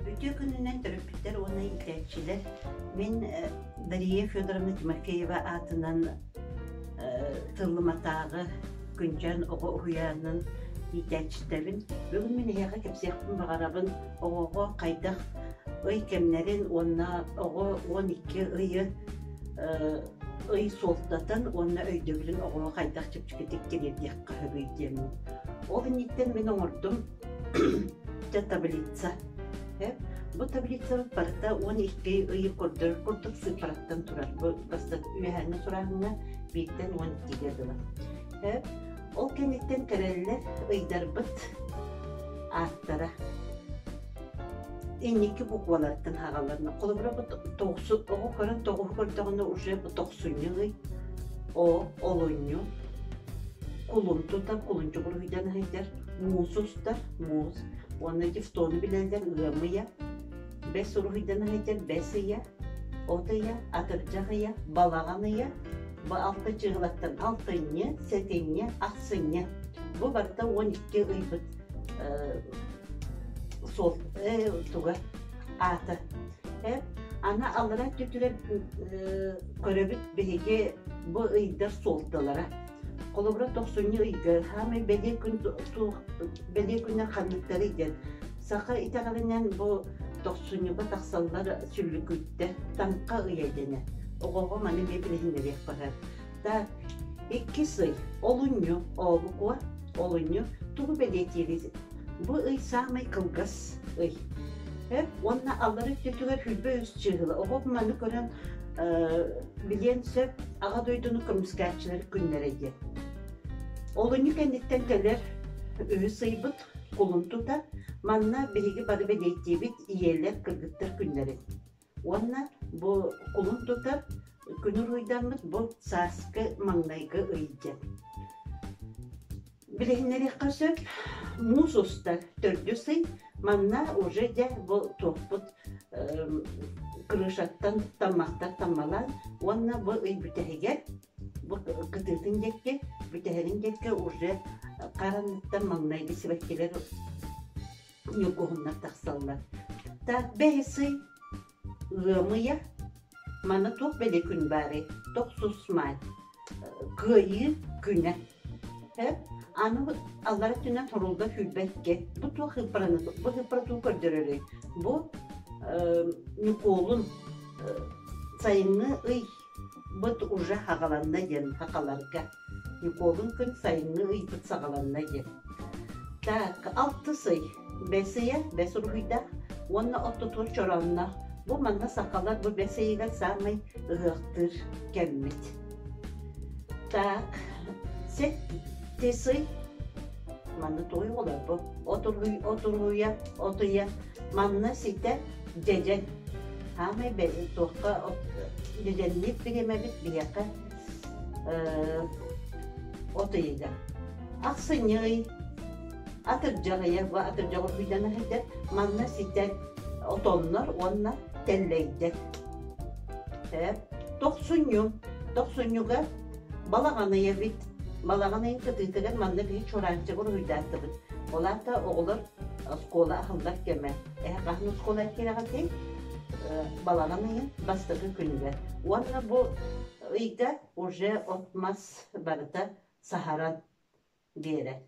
Үтүө күнүнэн төрөппүттэр уонна иитээччилэр мин э, Дария Федоровна Тимофеева аатынан э, тыллыматааҕы күнчэн оҕо уһуйаанын иитээччитэбин. Бүгүн мин эһиэхэ кэпсиэхпин баҕарабын оҕоҕо хайдах ый кэмнэрин уонна оҕо 12 ыйы ый суолтатын уонна өйдөбүлүн оҕоҕо хайдах чэпчэкитик тириэрдиэххэ сөбүй диэн. Ол инниттэн мин оҥордум таблица. Бу таблицабыт барыта уон икки ый көрдөрөр курдук сыыппараттан турар. Бу бастакы үөһээҥҥи сурааһыҥҥа бииртэн уон иккигэ дылы. Ол кэнниттэн кэрэллэр ыйдарбыт ааттара инникки букваларыттан хагалларна холобура бу тоҕсу оҕо көрөн тоҕуһу көрдөҕүнэ уже бу тохсунньу ый о олунньу кулун тута кулунчук уруһуйдан ыһыйдар муус устар муус уонна дифтону билэллэр ыам ыйа бэс уруһуйдан ыһыйдар бэс ыйа от ыйа атырдьах ыйа балаҕан ыйа бу алта чыылаттан алтынньы сэтинньэ ахсынньа бу барыта уон икки ыйбыт суол туга аата аны алларан түтүрэн көрөбүт биһиги бу ыйдар суолдалара холобура тохсунньу ыйга саамай бэлиэ күн суох бэлиэ күннэр ханныктары диэн саха итэҕэлинэн бу тохсунньуга тахсаллар сүллүкүттэр танка ыйа дэнэ оҕоҕо маны билиһиннэриэх барар да икки сый олунньу ообукуо олунньу тугу бэлиэтиилит бу ый саамай кылгас ый э уонна аллары өттүтүгэр хүлбэ үс чыыһыла оҕо маны көрөн билиэн сөп аҕа дойдуну көмүскээччилэр күннэрэ диэн олунньу кэнниттэн кэлэр үһүс ыйбыт кулун тута манна биһиги бары бэлиэтиибит ийэлэр кыргыттар күннэрин Уонна бу кулун тутар күн уруйдаммыт бу сааскы маҥнайгы ыйдьыт. Билиһиннэриэххэ сөп, муус устар төрдүс ый манна уже дьэ бу туохпут крышаттан таммахтар таммалаан уонна бу ый бүтэһигэр бу кытыытын диэки бүтэһэрин диэки уже хар анныттан маҥнайгы сибэккилэр ньукуһуннар тахсаллар та бэһи сый ыамыйа маны туох бэлиэ күн баарый тохсус-маай кыайыы күнэ э аны аллара өттүнэн торулга сүүрбэккэ бу туох ыппараны бу ыппаратын көрдөрөрүй бу ньукуолун сайыҥҥы ый Быт уже хаҕаланна диэн хахаларга Ньукуолун күн сайыҥҥы ыйбыт саҕаланна диэн. Так, алтыс ый, бэс ыйа бэс уруһуйдаах уонна оттотуор чороонноох. Бу манна сахалар бу бэс ыйыгар саамай ыһыахтыыр кэммит. Так, сэттис ый манна туой оҕолор бу отуруй отуруйа отуйа Манна ситэ дьэдьэн. Саамай бэри туохха дьэдьэнниир бириэмэбит биһиэхэ от ыйыга. Ахсынньы атырдьаҕыйа бу атырдьаҕы күүтэн аһыйдар манна ситэ отоннор уонна тэллэйдэр. Тохсунньу тохсунньуга балаҕаныйа бит балаҕан ыйын кытыытыгар манна биһи чураанчыгы уруһуйдааттыбыт. Ол аата оҕолор оскуола аһыллар кэмэ. Эһэ хаһан оскуола эккирэҕитий? баланан ыйын бастакы күнүгэр. Уонна бу ыйга уже от мас барыта саһаран биэрэр.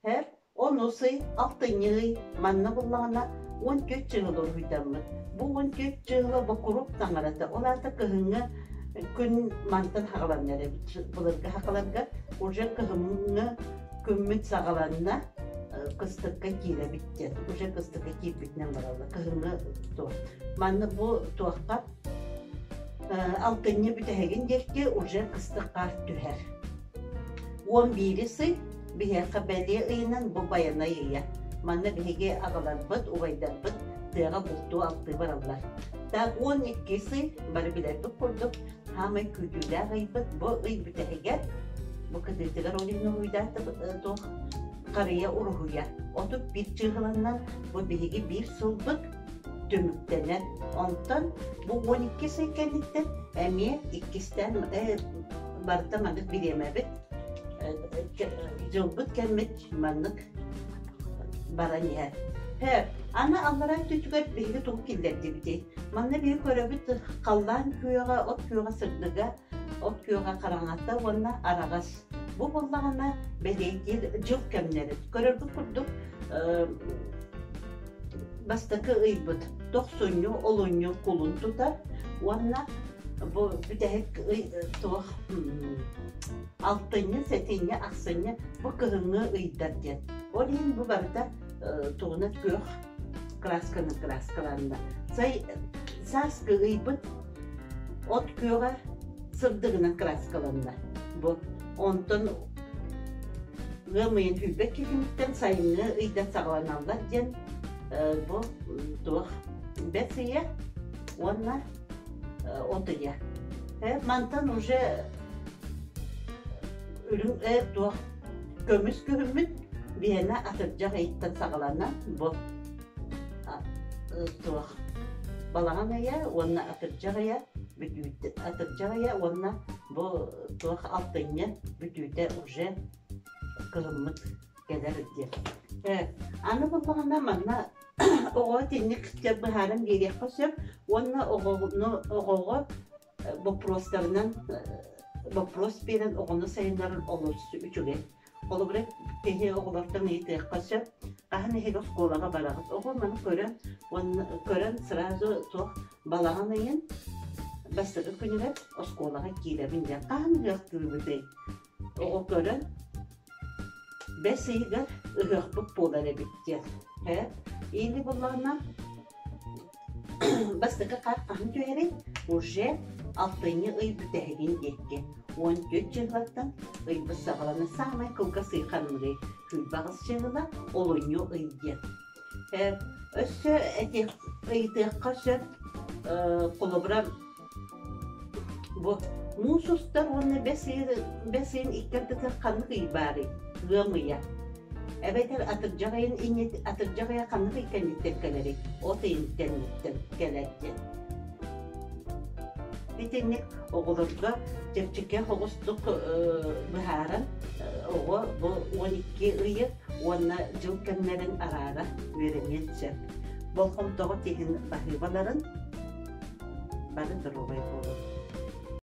Һэр онус ый, алтынньы ый манна буллаҕына он төрт чыһыл уруһуйдаммыт. Бу он төрт чыһыла бокурук таҥарата. Ол аата кыһыҥҥы күн мантан хаҕаланнар эбит. Былыргы хаҕаларга уже кыһыҥҥы күммүт саҕаланна кыстыкка киирэбит диэн уже кыстыкка киирбитинэн баралла кыһыҥҥы туох маннык бу туохха алтынньы бүтэһигин диэки уже кыстыкка түһэр уон биирис ый биһиэхэ бэлиэ ыйынан бу байанай ыйа манна биһиги аҕаларбыт убайдарбыт тыаҕа бултуу алтыы бараллар так уон иккис ый бары билэрбит курдук саамай күүтүүлээх ыйбыт бу ый бүтэһигэр бу кыдыытыгар олигнолуйдаатыбыт туох харыйа уруһуйа отут биир чыыһыланна бу биһиги биир сылбыт түмүктэнэр онтон бу он иккис ый кэнниттэн эмиэ иккистээн барыта маннык бириэмэбит дьылбыт кэммит маннык баран иһэр һэ аны аллараа өттүтүгэр биһиги тугу киллэрдибитий манна биһи көрөбүт халлаан күөҕэ от күөҕэ сырдыга от күөҕэ хараҥата уонна араҕас бу буоллаҕына бэлиэтиир дьыл кэмнэрин көрөргүт курдук бастакы ыйбыт тохсунньу олунньу кулун тутар уонна бу бүтэһик ый туох алтынньы, сэтинньи, ахсынньы бу кыһыҥҥы ыйдар диэн. Ол иһин бу барыта тугуна күөх красканы краскаланна. Сай сааскы ыйбыт от күөҕэ сырдыгынан краскаланна. Бу онтон ыам ыйын hüйбэк киһиниттэн сайыҥҥы ыйдан саҕаланаллар диэн бу туох бэс ыйа уонна Онто я. Мантан уже үрүҥ ээ туох көмүс күһүммүт биһэнэ атырдьах ыйыттан саҕалана бу суох балаҕан ыйа уонна атырдьах ыйа бүтүүтэ атырдьах ыйа уонна бу туох алтынньа бүтүүтэ уже кыһыммыт кэлэр диэн аны буллаҕына манна оҕоҕо итинник сөп быһааран биэриэххэ сөп уонна оҕону оҕоҕо э, боппуруостарынан э, боппуруос биэрэн оҕону сайыннаран олус үчүгэй. Холобура, киһи оҕолортон ыйытыахха сөп. Хаһан эһиги оскуолаҕа бараҕыт? Оҕо маны көрөн уонна көрөн сразу туох балаҕан ыйын бастакы күнүгэр оскуолаҕа киирэбин диэн хаһан ыһыахтыыбытый? Оҕо көрөн, бэс ыйыгар ыһыахпыт буолар эбит диэн. Һэ, или буллаҕына бастакы хаар хаһан түһэрин уже алтынньы ый бүтэһигин диэки уон түөрт дьыллаттан ыйбыт саҕалана саамай кылгас ый ханныгый кыйбаҕас дьылла олунньу ый диэн Э, өссө эти ыйытыахха сөп. Э, холобура, бу муус устар уонна бэс ыйын бэс ыйын иккэрдэтэ ханнык ый баарый? Ыам ыйа. Эбэтэр атырдьах айын иннит атырдьах ыйа ханнык иккэнниттэн кэлэрий? От ыйыттан кэлэр диэн. Итинник оҕолорго чэпчэки оҕустук быһааран оҕо бу он икки ыйы уонна дьыл кэмнэрин араара үөрэниэн сөп. Болҕомтоҕут иһин баһыыбаларын, бары доруобай буолун.